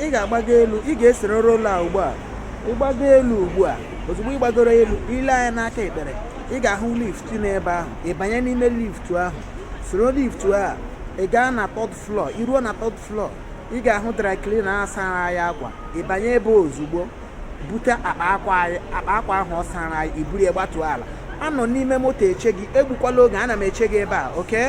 ị ga-agbago elu ị ga-esoro road a ugbu a ị gbago elu ugbu a ozugbo ị gbagoro elu i lee anya n'aka ekpe ị ga-ahụ lift n'ebe ahụ ị banye n'ime lift ahụ soro lift a ị gaa na third floor i ruo na third floor ị ga-ahụ dry cleaner sara anyị akwa ị banye ebe ozugbo bute akpa akwa anyị akpa akwa ahụ ọ sara anyị i buru ya gbatuo ala anọ m n'ime moto eche gị egbukwala oge ana m eche gị ebe a okay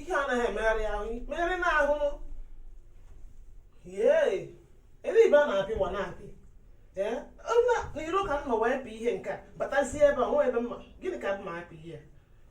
ihe anaghị emegharị ahụ megharị na ahụ ebe ibe a na-apị wa na-apị n'iro ka m nọ wee pịa ihe nke a batazie ebe a e nwe ebe m ma gịnị ka m ma apị ihe a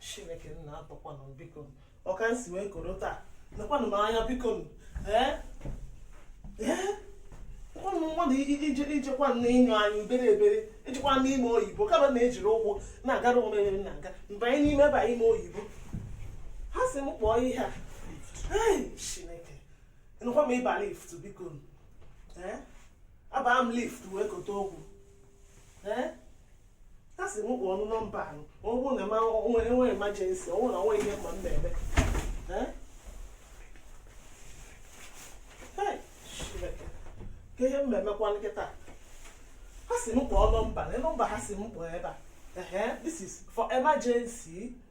chineke nna atọkwanụ m biko ọ ka m si wee koro taa nekwanụ m anya biko ee ee ụmụ mmadụ ijekwa na ịnyụ anyị obere obere ijekwa n'ime oyibo ka m na-ejiri ụkwụ na-agara onwe m na-aga mgbe anyị n'ime ebe ime oyibo ha sị m kpọọ ihe a chineke nụkwa m ịba lift biko ee abaa m lift wee kote okwu ee ha sị m kpọọ nọmba ahụ ọ bụrụ na e nwee emergency ọ bụrụ na o nwe ihe mma m na-eme ka ihe m na-emekwa kịta ha sị m kpọọ nọmba na nọmba ha sị m kpọọ ebe a ehe this is for emergency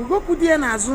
ogokwu dị ya n'azụ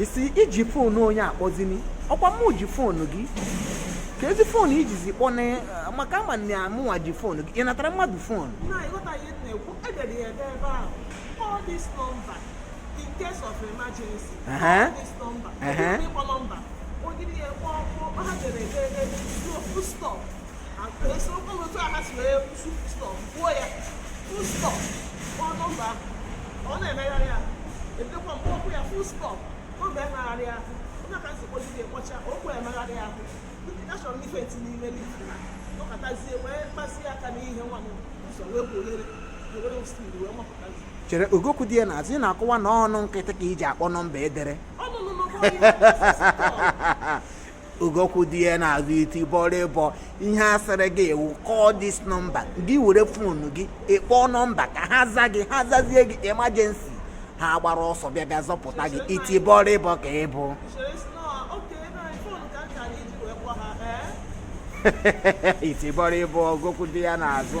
ị sị i ji foonu onye akpọzini ọ kwa mụ ji foonu gị keezi foonu i jizi kpọọ m maka ama na ọ mụwa ji foonu gị ị natara mmadụ foonu in case of emergency call this number. Uh-huh. Uh-huh. chere ogokwu dị ya n'azụ ị na-akọwa na ọnụ nkịtị ka i ji akpọ nọmba e dere ogokwu dị ya n'azụ iti bọrọ ịbọ ihe a sịrị gị you call this number gị were fonu gị ị kpọọ nọmba ka ha za gị ha zazie gị emergency ha agbara ọsọ bịa bịa zọpụta gị iti bọrọ ịbọ ka ị bụ iti bọrọ ịbọ ogokwu dị ya n'azụ